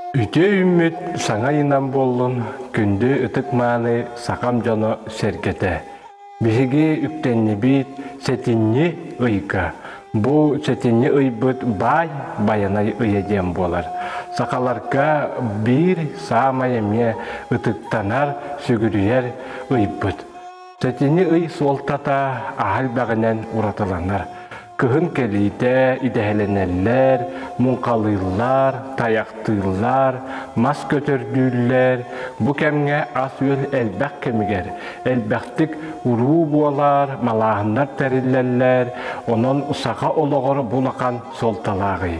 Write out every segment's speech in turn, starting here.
Үтүө үүммүт саҥа ыйынан буоллун күндү ытык-мааны сахам дьоно сэргэтэ! Биһиги үктэннибит сэтинньи ыйга. Бу сэтинньи ыйбыт баай байанай ыйа диэн буолар. Сахаларга биир саамай эмиэ ытыктанар, сүгүрүйэр ыйбыт. Тэтини ый суолтата аһа элбэҕинэн уратыланар. Кыһын кэлиитэ идэһэлэнэллэр, муҥхалыыллар, тайахтыыллар, мас көтөрдүүллэр. Бу кэмҥэ ас-үөл элбэх кэмигэр, элбэхтик уруу буолар, малааһыннар тэриллэллэр. Онон саха олоҕор булахан суолталааҕый.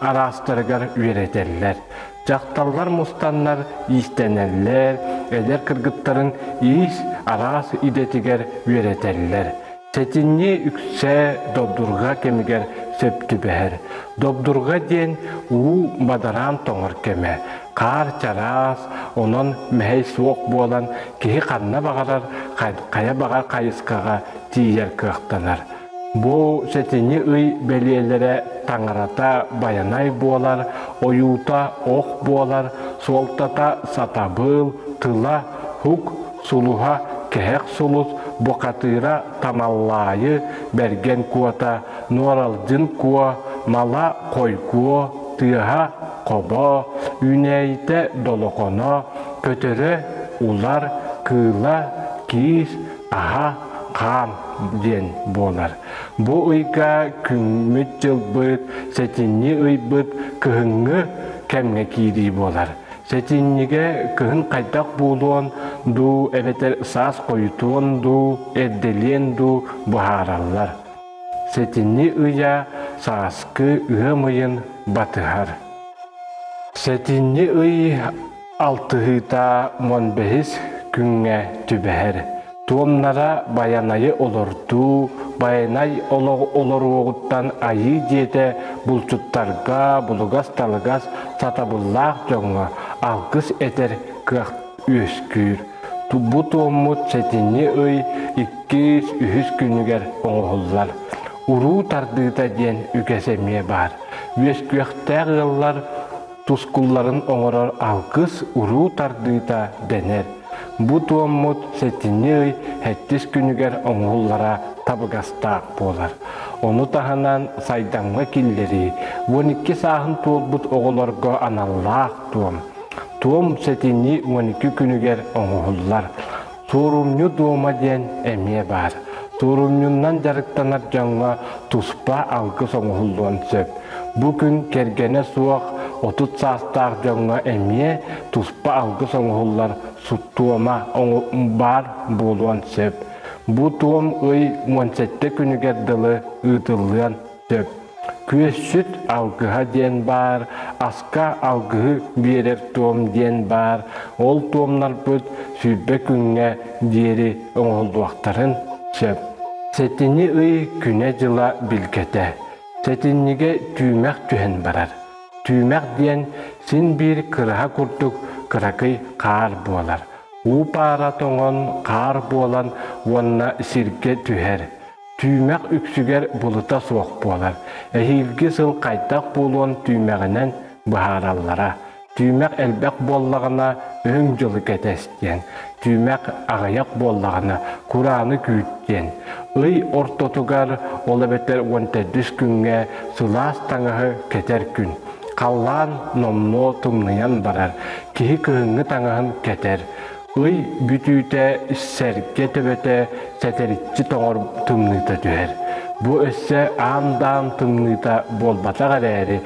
араастарыгар үөрэтэллэр. Дьахталлар мустаннар иистэнэллэр, эдэр кыргыттарын иис араас идэтигэр үөрэтэллэр. Сэтинньи үксэ добдурга кэмигэр сөп түбэһэр. Добдурга диэн уу мадараан тоҥор кэмэ. Хаар чараас, онон мэһэй суох буолан, киһи ханна баҕарар хайа баҕа хайысхаҕа тиийэр кыахтанар. Бу сэтинньи ый бэлиэлэрэ таҥарата байанай буолар, ойуута ох буолар, суолтата сатабыл, тыла, ук, сулуһа, кэһэх сулус, бухатыыра, тамаллаайы, бэргэн куота, нуоралдьын куо, мала хойгуо, тыаһа хобо, үүнээйитэ долохоно, көтөрө улар, кыыла киис, аһа хаам диэн буолар. Бу ыйга күммүт-дьылбыт, сэтинньи ыйбыт кыһыҥҥы кэмҥэ киирии буолар. Сэтинньигэ кыһын хайдах буолуон дуу, эбэтэр саас хойутуон дуу, эрдэлиэн дуу быһаараллар. Сэтинньи ыйа сааскы ыам ыйын батыһар. Сэтинньи ый Алтыһыыта уон бэһис күҥҥэ түбэһэр. Туомнара Байанайы олордуу, Байанай олоруоҕуттан айыы дьиэтэ булчуттарга булугас-талыгас, сатабыллаах дьоҥҥо алгыс этэр кыах үөскүүр. Бу туоммут сэтинньи ый иккис, үһүс күнүгэр оҥоһуллар. Уруу тардыыта диэн үгэс эмиэ баар. Үөскүөхтээх ыаллар тускулларын оҥорор алгыс, уруу тардыыта дэнэр. Бу туоммут сэтинньи ый хэттис күнүгэр оҥоһуллара табыгастаах буолар. Ону таһынан сайдамҥа киллэрии, уон икки сааһын туолбут оҕолорго аналлаах туом. Туом сэтинньи уон икки күнүгэр оҥоһуллар. Туорумньу дуома диэн эмиэ баар. Туорумньуннан дьарыктанар дьоҥҥо туспа алгыс оҥоһуллуон сөп. Бу күн кэргэнэ суох, отут саастаах дьоҥҥо эмиэ туспа алгыс оҥоһуллар туома баар буолуон сөп. Бу туом ый уон сэттэ күнүгэр дылы ыытыллыан Сөп. Күөсүт алгыһа диэн баар, аска алгыһы биэрэр туом диэн баар, ол туомнарбыт сүүрбэ күҥҥэ диэри оҥоһуллуохтарын сөп. Сэтини ый күнэ-дьыла билгэтэ. Сэтинньигэ түүмэх түһэн барар. Түүмэх диэн син биир кыраһа курдук кыракый хаар буолар. Уу паара тоҥон хаар буолан уонна сиргэ түһэр. Түүмэх үксүгэр булута суох буолар. Эһиилги сыл хайдах буолуон түүмэҕинэн быһаараллара. Түүмэх элбэх буоллаҕына, Үрүҥ дьылы кэтэс диэн. Түүмэх аҕыйах буоллаҕына, курааны күүт диэн. Ый ортотугар, ол эбэтэр уон төрдүс күҥҥэ сылаас таҥаһы кэтэр күн. Халлаан номнуо тумнуйан барар, киһи кыһыҥҥы таҥаһын кэтэр. Ый бүтүүтэ сэргэ төбөтө сэтэриччи тоҕор тымныыта түһэр. Бу өссө аан-даан тымныыта буолбатах эрээри,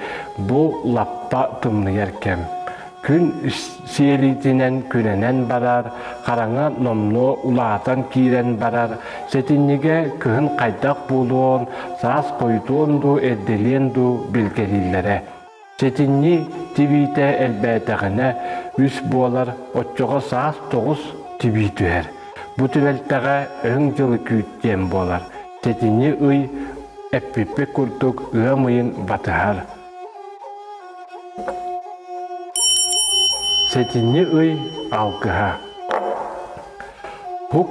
бу лаппа тымныйар кэм. Күн сиэлитинэн күрэнэн барар, хараҥа номнуо улаатан киирэн барар, сэтинньигэ кыһын хайдах буолуон, саас хойутуон дуу, эрдэлиэн дуу билгэлииллэрэ. Сэтинньи тибиитэ элбээтэҕинэ, үс буолар оччоҕо саас тоҕус тибии түһэр. Бу түбэлтэҕэ өҥ дьылы күүт диэн буолар. Сэтинньи ый эппиппит курдук ыам ыйын батыһар. Сэтинньи ый алгыһа. Ук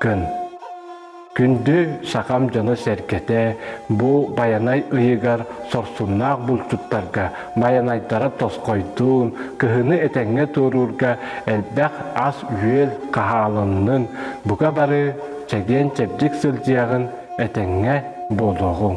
Күн Күндү сахам дьоно-сэргэтэ бу Байанай ыйыгар сорсуннаах булчуттарга Байанайдара тосхойдуун, кыһыны этэҥҥэ туоруурга элбэх ас-үөл хаһаалыннын, бука бары чэгиэн-чэбдик сылдьыаҕын, этэҥҥэ буолуоҕуҥ.